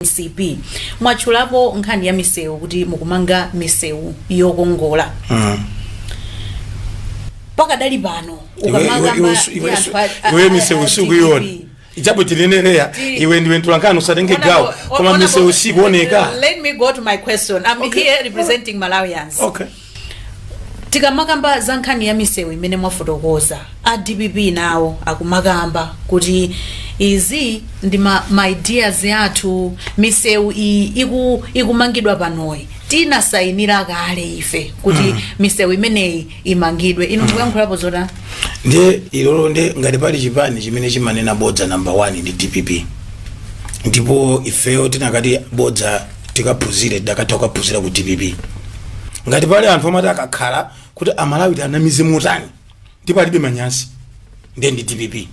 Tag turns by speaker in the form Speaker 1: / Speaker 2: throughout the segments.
Speaker 1: mcp mwatchulapo nkhani ya misewu kuti mukumanga misewu yokongola pakadali pano ukamanga ma- ndi anthu a-
Speaker 2: a- iwe a- misewu a- sukuiona DDP. ichapo chinenereya Ti- iwe ndiwe mtolankhani usatenge Honorable- gawo koma honorable- misewu sikuoneka Let me go to my
Speaker 1: question. I'm Okay. here representing Malawians. okay Tikamakamba za nkhani ya misewu imene mwafotokoza, a dpp nawo akumakamba kuti izi ndi ma, ma ideas athu misewu iyi iku, ikumangidwa panoyi tinasayinira kale ife kuti mm. misewu imeneyi imangidwe inu mukuyankhulapo zotani
Speaker 3: ndiye ilo lo nde ngati pali chipani chimene chimanena bodza number one ndi dpp ndipo ifeyo tikanati bodza tikaphunzire tikadatha kukaphunzira ku dpp ngati pali anthu omati akakhala kuti amalawi tianamize motani ndipo alibe manyazi ndiye ndi dpp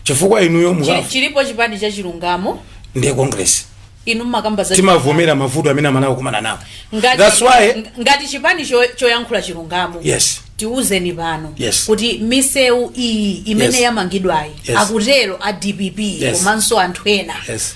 Speaker 3: chifukwa inuyo Chi- mukafu chilipo chipani cha
Speaker 1: chilungamo ndiye congress
Speaker 3: inu mmakamba
Speaker 1: za timavomera mavuto
Speaker 3: amene amalawi akukumana nawo ngati, that's why
Speaker 1: ng- ngati chipani cho- choyankhula chilungamo yes tiuzeni
Speaker 3: pano
Speaker 1: Yes. kuti misewu iyi imene Yes. yamangidwayi Yes. akutero a dpp Yes. komanso anthu ena yes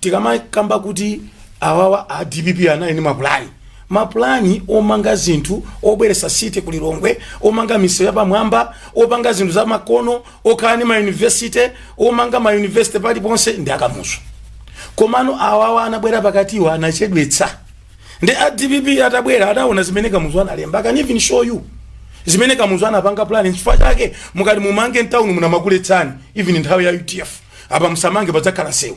Speaker 3: tikamakamba kuti awawa a dpp anali ndi mapulani mapulani omanga zinthu obweretsa city ku lilongwe omanga misewu yapamwamba opanga zinthu za makono okhala ndi mayunivesity omanga mayunivesity paliponse ndi akamuzu komano awawa anabwera pakatiwa anachedwetsa ndi a dpp atabwera adawona zimene kamuzu analemba I can even show you zimene kamuzu anapanga plan chifukwa chake mukati mumange mtawuni muno amakuletsani even nthawi ya udf apa msamange padzakhala msewu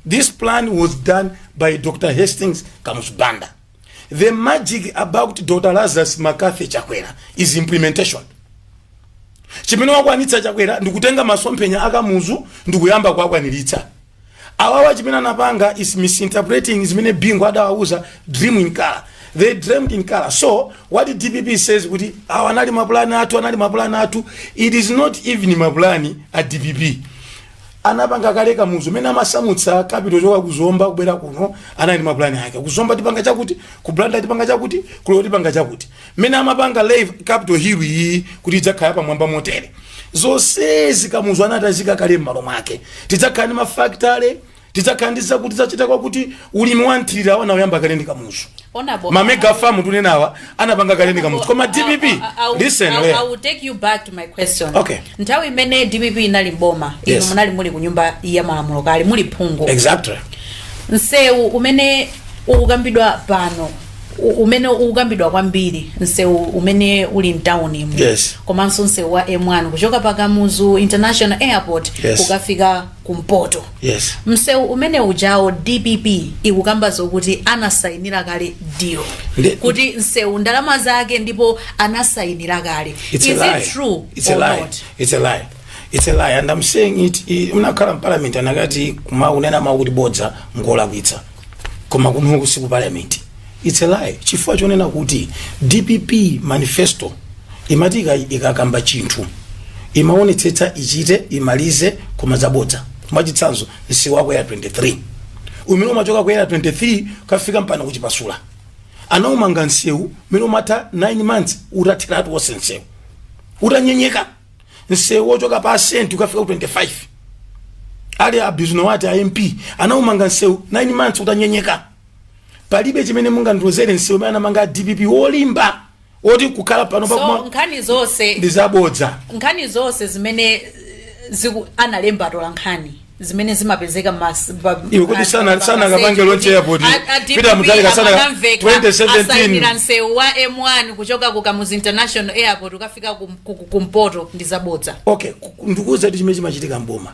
Speaker 3: this plan was done by dr hastings kamuzu banda the magic about dr lazarus mccarthy chakwera is implementation chimene wakwanitsa chakwera ndikutenga masomphenya akamuzu ndikuyamba kuwakwaniritsa awawa chimene anapanga is misinterpreting zimene bingu adawauza dream in color they dreamed in color so what dpp says kuti awa anali mapulani athu anali mapulani athu it is not even mapulani a dpp anapanga kale kamuzu mene amasamutsa kapito kuchoka kuzomba kubwera kuno anali mapulani ake kuzomba tipanga chakuti kublanda tipanga chakuti kulo tipanga chakuti mene amapanga live capital hill iyi kuti idzakhala pamwamba motere zonsezi kamuzu anakhazika kale m'malo mwake tidzakhala ndi mafactory tidzakhala ndi zakuti tidzachita zakuti ulimi wa mthirira wa anauyamba kale ndi kamuzu Honorable, mamega farm tikunenawa anapanga kale ndi kamuzu koma dpp I'll- I'll- listen I'll- lea. I will take you
Speaker 1: back to my question. Okay. nthawi imene
Speaker 3: dpp
Speaker 1: inali mboma inu Yes. munali muli ku nyumba ya malamulo kale muli phungu
Speaker 3: exactly
Speaker 1: msewu umene ukukambidwa pano u- umene ukukambidwa kwambiri msewu umene uli mtawunimu Yes. komanso msewu wa m1 kuchoka pa kamuzu international airport Yes. kukafika kumpoto yes msewu umene ujawo dpp ikukamba zokuti anasayinira kale deal Ndi- kuti msewu ndalama zake ndipo anasayinira kale It's is a lie.
Speaker 3: it true It's or a lie. not It's a lie. It's a lie. And I'm saying it i- munakakhala m'parliament anakati kumanena mawu kuti bodza n'kulakwitsa koma kuno si ku parliament its a lie chifukwa chonena kuti dpp manifesto imati ika- ikakamba chinthu imaonetsetsa ichite imalize koma zabodza mwachitsanzo msewu wa ku Area 23 umene umachoka ku Area 23 kukafika mpaka ku Chipasula anaumanga msewu mmene imatha 9 months utathiratu wonse msewu utanyenyeka msewu wochoka pa Senti kukafika ku 25 ali a Bisnowaty a mp anaumanga msewu 9 months utanyenyeka palibe chimene mungandiuzere nsewu umene anamanga a dpp wolimba woti kukhala pano so pakuma nkhani
Speaker 1: zonse ndi zabodza nkhani zonse zimene eh, analemba atola nkhani zimene zimapezeka mas- pa- Iwe kuti
Speaker 3: pa- sana- pa- sana pa- akapange kuti launch airport. a- a DPP Peter Mutharika sana- amanamveka, 2017. asayinira
Speaker 1: msewu wa m1 kuchoka ku kamuzi international airport kukafika ku- ku- ku- kumpoto ndi zabodza okay ku- ndikuuza
Speaker 3: kuti chimene chimachitika mboma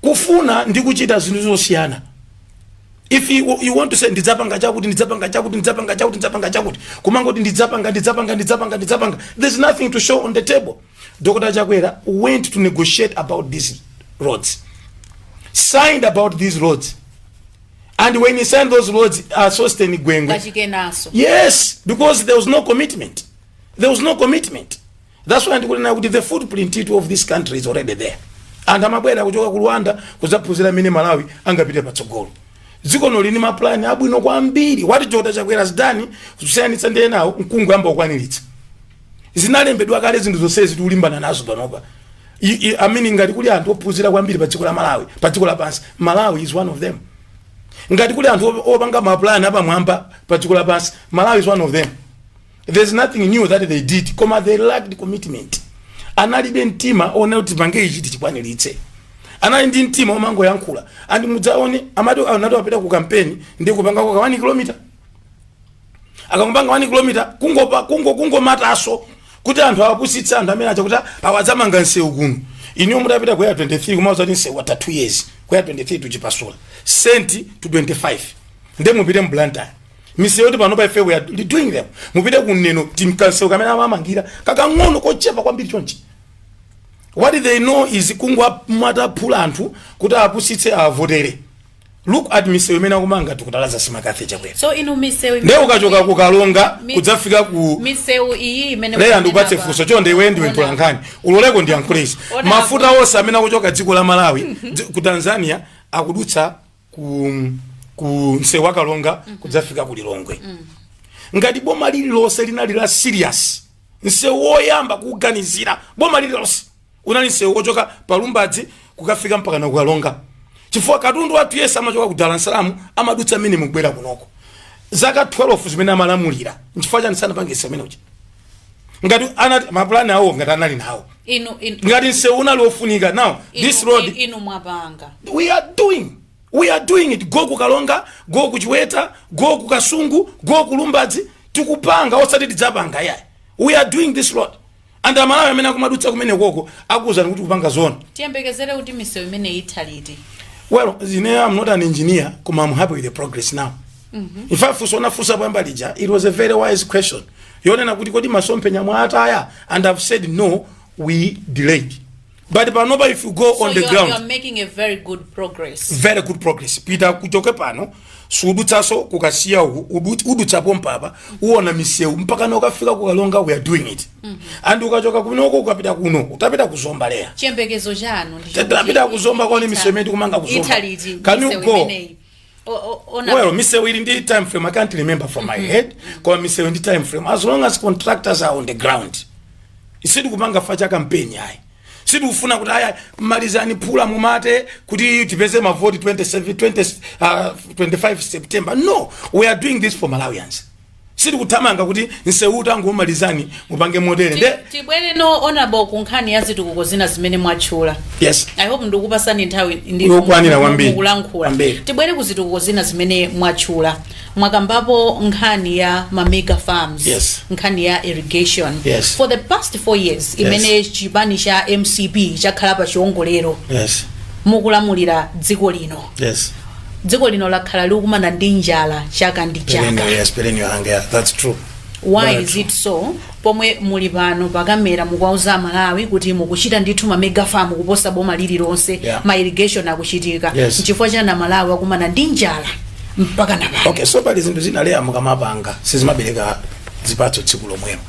Speaker 3: kufuna ndi kuchita zinthu zosiyana if you, you want to say ndidzapanga chakuti ndidzapanga chakuti ndidzapanga chakuti ndidzapanga chakuti kumangoti ndidzapanga ndidzapanga ndidzapanga ndidzapanga there's nothing to show on the table dr chakwera went to negotiate about these roads signed about these roads and when he signed those roads uh, sosten gwengwe kachikenaso yes because there was no commitment there was no commitment That's why ndikunena kuti the footprint of this country is already there. Anthu amabwera kuchoka ku Rwanda kuzaphunzira mmene Malawi angapite patsogolo. Dziko lino lili ndi mapulani abwino kwambiri. What Dr Chakwera has done kusiyanitsa ndi enawo n'kungoyamba kukwaniritsa. Zinalembedwa kale zinthu zonsezi tikulimbana nazo panopa. I- i- I mean ngati kuli anthu ophunzira kwambiri pa dziko la Malawi, pa dziko lapansi, Malawi is one of them. Ngati kuli anthu op- opanga mapulani apamwamba pa dziko lapansi, Malawi is one of them. there's nothing new that they did koma they lacked commitment analibe mtima wonena kuti tipange ichi tichikwaniritse anali ndi mtima omangoyankhula and mudzaone amati akati apita ku kampeni ndi kukapanga ka 1 kilomita akangopanga 1 kilomita kungopa kungo kungomata maso kuti anthu awapusitse anthu amene aja kuti awa adzamanga nsewu kuno inuyo mutapita ku Area 23 kumawauza kuti nsewu watha 2 years Area 23 to Chipasula senti to 25 nde mupite mu blantyre misewu yoti panopa ife we are doing them mupite kuneno tinkansewu kamene amamangira kakang'ono kochepa kwambiri chonchi what they know is kungomwata phula anthu kuti apusitse avotere look at misewu imene akumanga a doctor lazarus mccarthy chakwera so inu misewu
Speaker 1: nde ukachoka ku
Speaker 3: karonga Mi- kudzafika ku misewu iyi
Speaker 1: imene leya mukunena ndikupatse funso chonde
Speaker 3: iwe ndiwe Ona. mtolankhani undiloleko ndiyankhule so Ona mafuta onse amene akuchoka a dziko la malawi dzi- ku tanzania akudutsa ku, ku msewu wa karonga kudzafika ku lilongwe ngati boma lililonse linali la serious msewu woyamba kuuganizira boma lililonse unali msewu wochoka pa lumbadzi kukafika mpakana ku karonga chifukwa katundu wathu yese amachoka ku dar es salaam amadutsa mmenemu kubwera kunoko zaka 12 zimene amalamulira nchifukwa chani sanapange msewu umenewu ngati anali mapulani awo ngati anali nawo inu inu ngati msewu unali wofunika now this inu- road inu mwapanga
Speaker 1: we are doing
Speaker 3: we are doing it go ku karonga go kuchiweta go kukasungu go kulumbadzi tikupanga osati tidzapanga yayi we are doing this road and amalawi amene akumadutsa kumeneko akuwuzani kuti tikupanga zoona tiyembekezere kuti
Speaker 1: misewu imene itha liti well you
Speaker 3: know, i'm not an engineer koma i'm happy with the progress now in fact funso unafunsa poyamba lija it was a very wise question yonena kuti kodi masomphenya mwataya and i've said no we delayed but panopa if you go So on the you are, ground you are making a very
Speaker 1: good progress. very good progress
Speaker 3: pita uchoke pano sudutsaso kukasiya uku udu- udutsa pompapa uona misewu mpakana kukafika ku karonga we are doing it and ukachoka kunoko ukapita kuno utapita kuzomba leya chiyembekezo chanu
Speaker 1: ndi choti tapita chi- kuzomba
Speaker 3: ukaone ita- misewu imene tikumanga kuzomba itha liti can you misewu go imeneyi. well misewu ili ndi time frame i can't remember from my head koma misewu ndi time frame as long as contractors are on the ground ife sitikupanga chifukwa cha kampeni ayi sitikufuna kuti aya malizani phula mumwate kuti tipeze mavoti 27 20, uh, 25 september no we are doing this for malawians sitikuthamanga kuti nsewuwu tangomalizani mupange motere nde tibwereno
Speaker 1: honorable ku nkhani ya zitukuko zina zimene mwatchula yes i hope
Speaker 3: ndikukupasani
Speaker 1: nthawi ndi- Yokwanira kwambiri. mukulankhula Kwambiri. tibwere ku zitukuko zina zimene mwatchula mwakambapo nkhani ya mamega farms Yes. nkhani
Speaker 3: ya
Speaker 1: irrigation Yes. for the
Speaker 3: past
Speaker 1: four years imene chipani cha mcp chakhala pa chiongolero yes
Speaker 3: mukulamulira
Speaker 1: dziko lino yes
Speaker 3: dziko
Speaker 1: lino lakhala likukumana ndi njala chaka ndi chaka Perennial, yes, perennial hunger.
Speaker 3: Yeah, that's true. why Very is
Speaker 1: it so pomwe muli pano pakamera mukuwauza amalawi kuti mukuchita ndithu ma mega farm kuposa boma lililonse Yeah. ma irrigation akuchitika Yes. nchifukwa chani amalawi akukumana ndi njala mpakana pano okay so pali zinthu zina
Speaker 3: leya mukamapanga sizimabereka zipatso tsiku lomwelo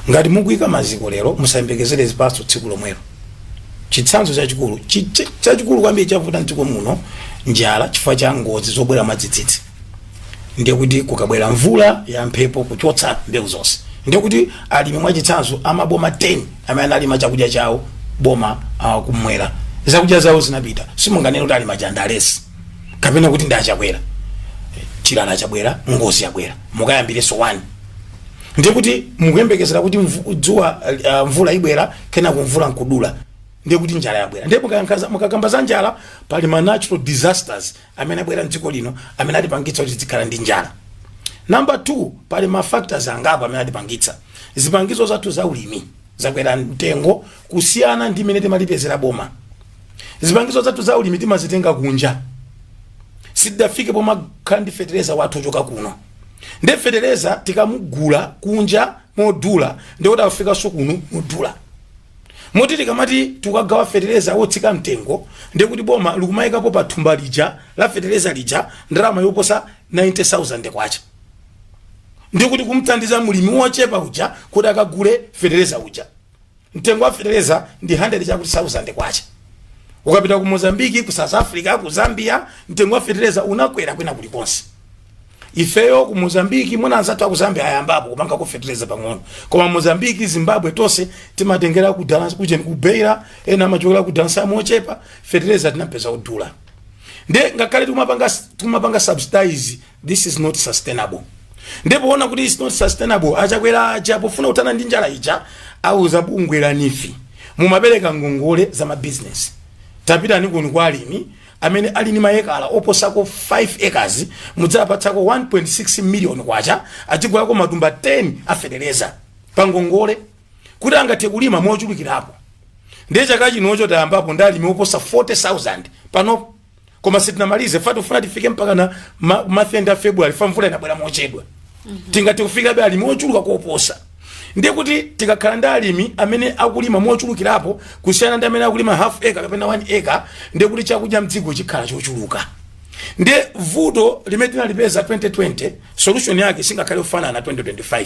Speaker 3: ngati mukuika maziko lero musayembekezere zipatso tsiku lomwelo chitsanzo chachikulu chi- chi- chachikulu kwambiri chavuta mdziko muno njala chifukwa cha ngozi zobwera mwadzidzidzi ndiye kuti kukabwera mvula ya mphepo kuchotsa mbewu zonse ndiye kuti alimi mwachitsanzo amaboma 10 amene analima chakudya chawo boma uh, kumwera zakudya zawo zinapita simunganene kuti alima chandalesi kapena kuti ndi achakwera chilala chabwera ngozi yabwera mukayambirenso wani ndiye kuti mukuyembekezera kuti mvu- dzuwa uh, mvula ibwera kenako mvula nkudula ndiye kuti njala yabwera ndiye mukayankhaza- mukakamba za njala pali ma natural disasters amene abwera mdziko lino amene atipangitsa kuti tikhale ndi njala namba 2 pali ma factors angapo amene atipangitsa zipangizo zathu za ulimi zakwera mtengo kusiyana ndi mmene tinalipezera boma zipangizo zathu za ulimi timazitenga kunja sitidafike pomakhala ndi fetereza wathu ochoka kuno nde fetereza tikumugula kunja modula ndikuti akufikanso kuno modula moti tikamati tikugawa fetereza wotsika mtengo ndikuti boma likumayikapo pa thumba lija la fetereza lija ndalama yoposa 90000 kwacha ndikuti kumthandiza mulimi wochepa uja kuti akagule fetereza uja mtengo wa fetereza ndi 100 chakuti sauzande kwacha ukapita ku mozambiki ku south africa ku zambia mtengo wa fetereza unakwera kwina kulikonse ifeyo ku mozambiki mwina anzathu aku zambia ayambapo kupanga ku fetereza pang'ono koma mozambiki zimbabwe tonse timatengera ku Dar es- ku Jen- ku beira ena amachokera ku dansa mochepa fetereza tinapeza akudula nde ngakhale tikumapanga tikumapanga subsidize this is not sustainable ndipo ona kuti is not sustainable achakwera aja pofuna kuthana ndi njala ija auza bungwe la NEEF mumapereka ngongole za mabizinesi tapitani kuni kwa alimi amene ali ni maekala oposako 5 acres mudziwapatsako 1.6 million kwacha adzigulako matumba 10 afetereza pa ngongole kuti angathe kulima mochulukirapo ndiye chaka chino cho tayambapo ndi alimi oposa 40000 panopo koma sitinamalize fa tifuna tifike mpaka na ma- mathenda a february fa mvula inabwera mochedwa tingati kufikabe alimi ochuluka koposa ndiye kuti tikakhala ndi alimi amene akulima mochulukirapo kusiyana ndi amene akulima half acre kapena 1 acre ndiye kuti chakudya mdziko chikhala chochuluka ndiye vuto limene tinalipeza 2020 solution yake singakhale kufanana 2025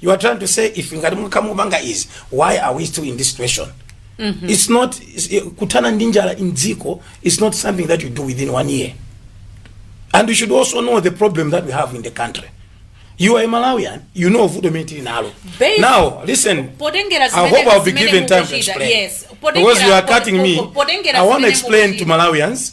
Speaker 3: you are trying to say if ngati mukhamu kupanga izi why are we still in this situation it's not it's, eh, kuthana ndi njala in dziko it's not something that you do within one year and you should also know the problem that we have in the country you are a malawian you know vuto imene tili nalo Based- now listen potengera i zimene- hope i'll be zimene given time to mukuchita, explain yes. Potengera- because you are po- cutting me po- potengera i want to zimene explain to mukuchita. malawians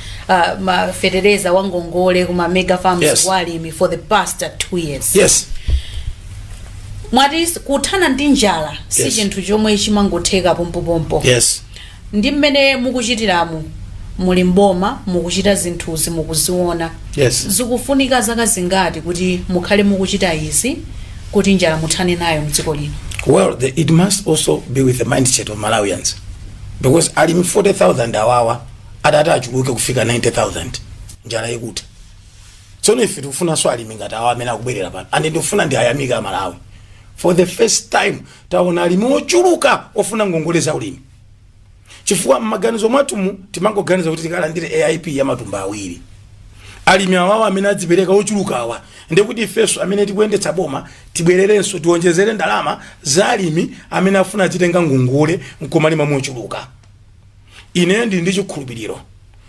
Speaker 1: uh, ma fetereza wa ngongole kuma mega farms Yes. kwa alimi for the past uh, two years yes mwati s- kuthana ndi njala si Yes. chinthu chomwe chimangotheka pompopompo yes
Speaker 3: ndi mmene
Speaker 1: mukuchitiramu muli mboma mukuchita zinthuzi mukuziona yes zikufunika
Speaker 3: zaka
Speaker 1: zingati kuti mukhale mukuchita izi kuti njala muthane nayo mdziko lino well the, it must
Speaker 3: also be with the mindset of malawians because alimi 40000 awawa atati achuluke kufika 90000 njala ikutha tsono ife tikufunanso alimi ngati awa amene akubwerera pano and ndikufuna ndiwayamike amalawi for the first time taona alimi ochuluka ofuna ngongole za ulimi chifukwa mmaganizo mwathumu timangoganiza kuti tikalandire aip ya matumba awiri alimi awawa amene adzipereka ochuluka awa ndekuti ifenso amene tikuyendetsa boma tibwererenso tiwonjezere ndalama za alimi amene afuna azitenga ngongole nkumalima mochuluka ineyo ndili ndi chikhulupiriro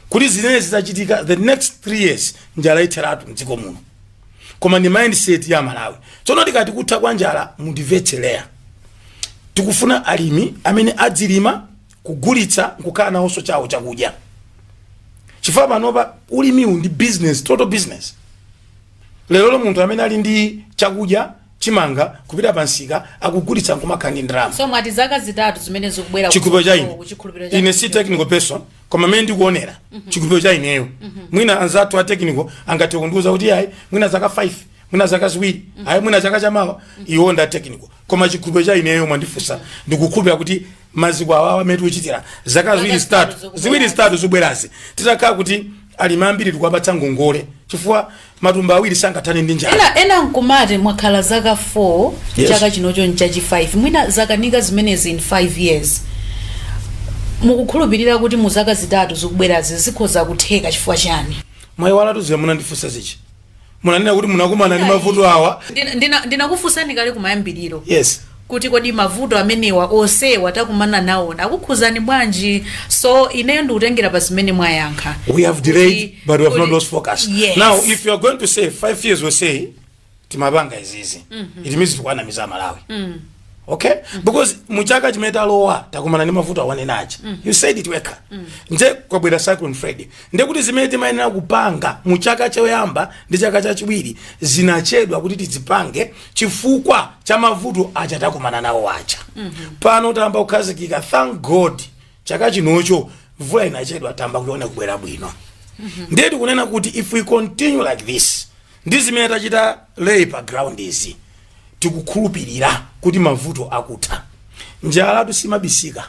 Speaker 3: kuti zimene zidzachitika the next three years njala itheratu mdziko muno koma ndi mindset ya amalawi tsono tikati kutha kwa njala mundimvetse Leah tikufuna alimi amene adzilima kugulitsa nkukhala nawonso chawo chakudya chifukwa panopa ulimiwu ndi business total business lerolo munthu amene ali ndi chakudya chimanga kupita pa msika akugulitsa nkumakhala ndi ndalama so mwati zaka zitatu
Speaker 1: zimene zikubwera chikhulupiriro cha ine
Speaker 3: ine si technical person koma mmene ndikuonera chikhulupiriro cha ineyo mwina anzathu a technical angathe kundiuza kuti ayi mwina zaka 5 mwina zaka ziwiri ayi mwina chaka chamawa iwo nda technical koma chikhulupiriro cha ineyo mwandifunsa ndikukhulupirira kuti maziko awawa amene tikuchitira zaka ziwiri zitatu zikubwerazi titakhala kuti alimi ambiri tikuwapatsa ngongole chifukwa matumba awiri sangathane ndi njala ena ena nkumati mwakhala
Speaker 1: zaka 4 Yes. chaka chinocho nchachi 5 mwina zakanika zimenezi in 5 years mukukhulupirira kuti mu zaka zitatu zikubwerazi zikhoza kutheka chifukwa chani mwayiwalatu
Speaker 3: ziya munandifunsa zija munanena kuti munakumana ndi mavuto awa Ndina- ndina-
Speaker 1: ndinakufunsani kale kumayambiriro yes kuti kodi
Speaker 3: mavuto
Speaker 1: amenewa onsewa takumana nawo akukhudzani bwanji so ineyo ndikutengera pa zimene mwayankha we have delayed
Speaker 3: Kuti- but we have not kuti- lost focus Yes. now if you are
Speaker 1: going to
Speaker 3: say five years we say timapanga izizi it means tikuwanamiza amalawi okay because muchaka chimene talowa takumana ndi mavuto awa nanga si you said it wekha ndiye kwabwera cyclone freddy nde kuti zimene timayenera kupanga muchaka choyamba ndi chaka chachiwiri zinachedwa kuti tizipange chifukwa cha mavuto aja takumana nawo aja pano tayamba kukhazikika thank god chaka chinocho mvula inachedwa tayamba kuiona kubwera bwino ndiye tikunena kuti if we continue like this ndi zimene tachita lay pa ground izi tikukhulupirira kuti mavuto akutha njalatu simabisika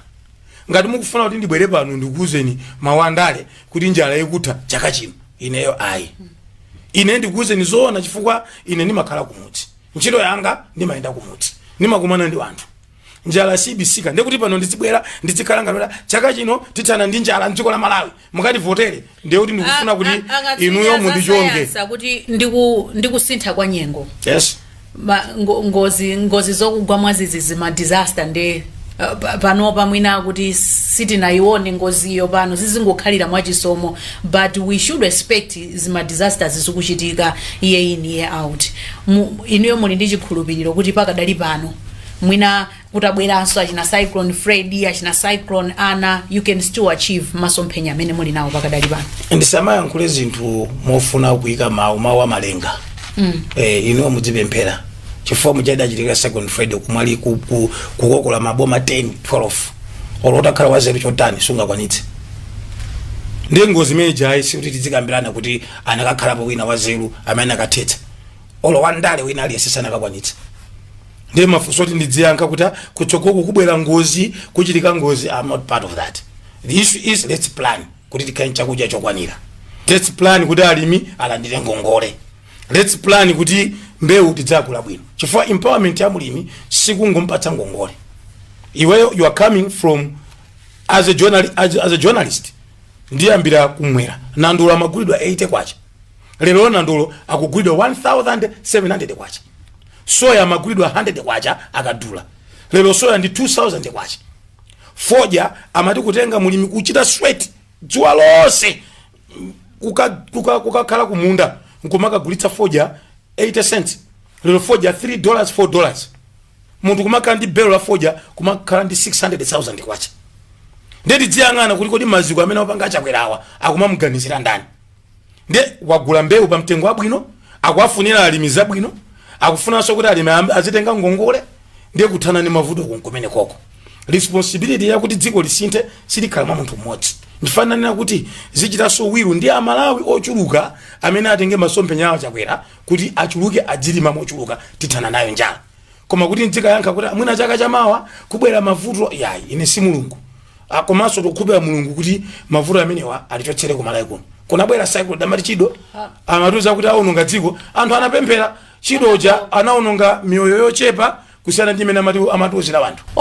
Speaker 3: ngati mukufuna kuti ndibwere pano ndikuuzeni mawu andale kuti njala ikutha chaka chino ineyo ayi ine ndikuuzeni zoona chifukwa ine ndimakhala kumudzi ntchito yanga ndimayenda kumudzi ndimakumana ndi anthu njala sibisika ndekuti pano ndizibwera ndizikhala ngalo lo chaka chino tithana ndi njala mdziko la malawi mukativotere ndiye kuti ndikufuna kuti inuyo mundichonge A- a- akatswiri a zasayansi akuti ndi
Speaker 1: ku- ndi kusintha kwa nyengo yes Ma-
Speaker 3: ngo- ngozi
Speaker 1: ngozi zokugwa mwadzidzi zima disaster nde uh, pa- panopa mwina kuti sitinayione ngoziyo pano zizingokhalira mwachisomo but we should expect zima disasters zikuchitika year in year out Mu- inuyo muli ndi chikhulupiriro kuti pakadali pano mwina kutabweranso achina cyclone freddy achina cyclone ana you can still achieve masomphenya amene muli nawo pakadali pano tisamayankhule zinthu
Speaker 3: mofuna kuyika mawu mawu amalenga mm. eh, inuyo mudzipemphera chifukwa mudachitikira cyclone freddy kumwera ku- ku- kukokola maboma 10 12 olo utakhala wazeru chotani sungakwanitse ndi ngozi imene ija yayi sikuti tidzikambirana kuti anakakhalapo wina wazeru amene akathetsa olo wandale wina aliyense sanakakwanitse ndiye mafunso oti ndidziyankha kuti kutsogoloku kubwera ngozi kuchitika ngozi i'm not part of that the issue is let's plan kuti tikhale chakudya chokwanira let's plan kuti alimi alandire ngongole let's plan kuti mbewu tidzagula bwino chifukwa empowerment ya mulimi sikungompatsa ngongole iweyo you are coming from as a, journal, as, as a journalist ndiyambira kumwera nandolo amagulidwa 80 kwacha lero nandolo akugulidwa 1700 kwacha soya amagulidwa 100 kwacha akadula lero soya ndi 2000 kwacha fodya amati kutenga mulimi kuchita sweat dzuwa lonse kukakhala kuka, kuka kukakhala kumunda nkumakagulitsa fodya 80 cents lero fodya 3 dollars 4 dollars munthu kumakhala ndi belo la fodya kumakhala ndi 600000 kwacha nde tidziyang'ana kuti kodi maziko amene apanga a chakwerawa akumamuganizira ndani ndiye wagula mbewu pa mtengo wabwino akuwafunira alimi zabwino akufunanso kuti alimi am- azitenga ngongole ndiye kuthana ndi mavuto kunkumene koko responsibility yakuti dziko lisinthe silikhala mwa munthu mmodzi ndifunanso kuti political will ndi amalawi ochuluka amene atenge masomphenya a chakwera kuti achuluke adzilima mochuluka tithana nayo njala koma kuti ndzikayankha kuti mwina chaka chamawa kubwera mavuto yayi ine si mulungu Ah, komanso tikukhulupirira mulungu kuti mavuto amenewa alichotsere kumalawi kuno kunabwera cyclone amati chido amatiuza kuti aononga dziko anthu anapemphera chido uja anaononga miyoyo yochepa kusiyana ndi imene amati- amatiuzira wanthu